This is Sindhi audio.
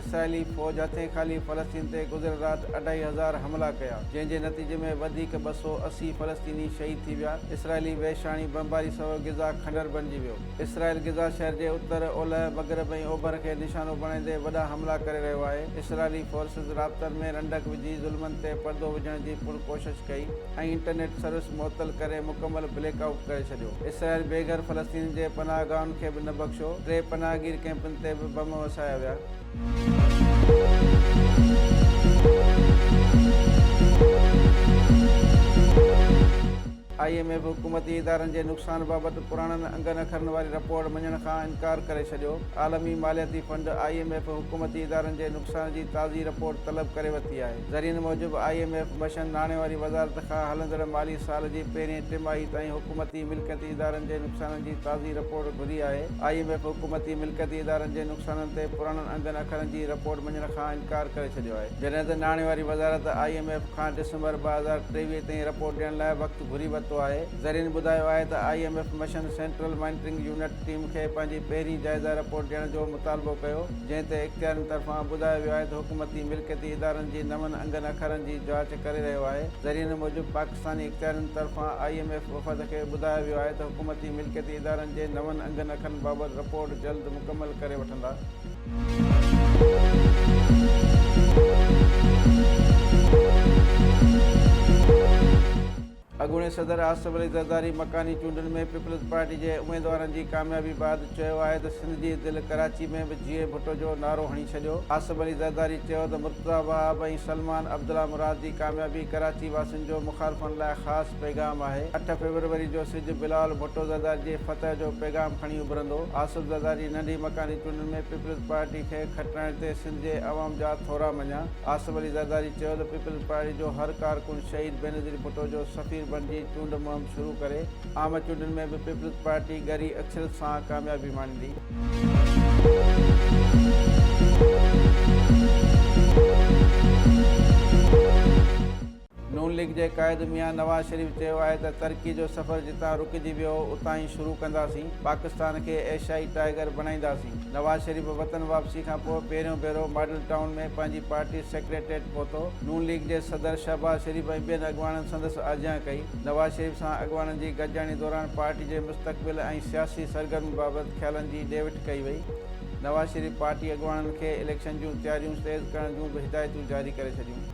اسرائيلي فوج هٿين خالي فلسطين تي گذريل رات اڍائي هزار حملا ڪيا، جنهن جي نتيجي ۾ وڌيڪ ٻه سؤ اسي فلسطيني شهيد ٿي ويا. اسرائيلي وحشاڻي بمباري سبب غزا کنڊر بڻجي ويو. اسرائيل غزا شهر جي اتر، اولهه، مغرب ۽ اوڀر کي نشانو بڻائيندي وڏا حملا ڪري رهيو آهي. اسرائيلي فورسز رابطن ۾ رنڊڪ وجهي ظلمن تي پردو وجهڻ جي پڻ ڪوشش ڪئي ۽ انٽرنيٽ سروس معطل ڪري مڪمل بليڪ آئوٽ ڪري ڇڏي. ڇڏيو. اسرائيل بي گهر فلسطينين جي پناهه گاهن کي به نه بخشيو. ٽي پناهه گير ڪئمپن تي به بم وسايا ويا. آء ايم ايف حڪومتي ادارن جي نقصان بابت پراڻن انگن اکرن واري رپورٽ مڃڻ کان انڪار ڪري ڇڏيو. عالمي مالياتي فنڊ، آء ايم ايف، حڪومتي ادارن جي نقصان جي تازي رپورٽ طلب ڪري ورتي آهي. ذريعن موجب آء ايم ايف بشن ناڻي واري وزارت کان هلندڙ مالي سال جي پهرين ٽماهي تائين حڪومتي ملڪيتي ادارن جي نقصانن جي تازي رپورٽ گهري آهي آء ايم ايف حڪومتي ملڪيتي ادارن جي نقصانن تي پراڻن انگن اکرن جي رپورٽ مڃڻ کان انڪار ڪري ڇڏيو آهي جڏهن ته ناڻي واري وزارت آء ايم ايف کان ڊسمبر ٻه هزار ٽيويهه تائين رپورٽ ڏيڻ لاء وقت گهري ورتو آهي ذريعن ٻڌايو آهي ته آء ايم ايف بشن سينٽرل مانيٽرنگ يونٽ ٽيم کي پنهنجي پهرين جائزه رپورٽ ڏيڻ جو مطالبو ڪيو، جنهن تي اختيارين طرفان ٻڌايو ويو آهي ته حڪومتي ملڪيتي ادارن جي نون انگن اکرن جي جاچ ڪري رهيو آهي. ذريعن موجب پاڪستاني اختيارين طرفان آئي ايم ايف وفد کي ٻڌايو ويو آهي ته حڪومتي ملڪيتي ادارن جي نون انگن اکرن بابت رپورٽ جلد مڪمل ڪري وٺندا. اڳوڻي صدر آصف علي زرداري مڪاني چونڊن ۾ پيپلز پارٽي جي اميدوارن جي ڪاميابي بعد چيو آهي ته سنڌ جي دل ڪراچي ۾ به جيئي ڀٽو جو نعرو هڻي ڇڏيو. آصف علي زرداري چيو ته مرتضيٰ وهاب ۽ سلمان عبدالله مراد جي ڪاميابي ڪراچي واسين جو مخالفن لاء خاص پيغام آهي، اٺ فيبروري جو سج بلاول ڀٽو زرداري جي فتح جو پيغام کڻي اڀرندو، آصف زرداري ننڍي مڪاني چونڊن ۾ پيپلز پارٽي کي کٽرائڻ تي سنڌ جي عوام جا ٿورا مڃيا. آصف علي زرداري چيو ته پيپلز پارٽي جو هر ڪارڪن شهيد بينظير ڀٽو جو سفير بڻجي چونڊ مهم شروع ڪري، عام چونڊن ۾ به پيپلز پارٽي ڳري اڪثريت سان ڪاميابي ماڻيندي. نون ليگ جي قائد ميان نواز شريف چيو آهي ته ترڪي جو سفر جتان رڪجي ويو هو اتان ئي شروع ڪنداسين، پاڪستان کي ايشيائي ٽائيگر بڻائينداسين، نواز شريف وطن واپسي کانپوء پهريون ڀيرو ماڊل ٽائون ۾ پنهنجي پارٽي سيڪريٽريٽ پهتو، نون ليگ جي صدر شهباز شريف ۽ ٻين اڳواڻن سندس آجيان ڪئي، نواز شريف سان اڳواڻن جي گڏجاڻي دوران پارٽي جي مستقبل ۽ سياسي سرگرمين بابت خيالن جي ڏي وٺ ڪئي وئي، نواز شريف پارٽي اڳواڻن کي اليڪشن جون تياريون تيز ڪرڻ جون به هدايتون جاري ڪري ڇڏيون.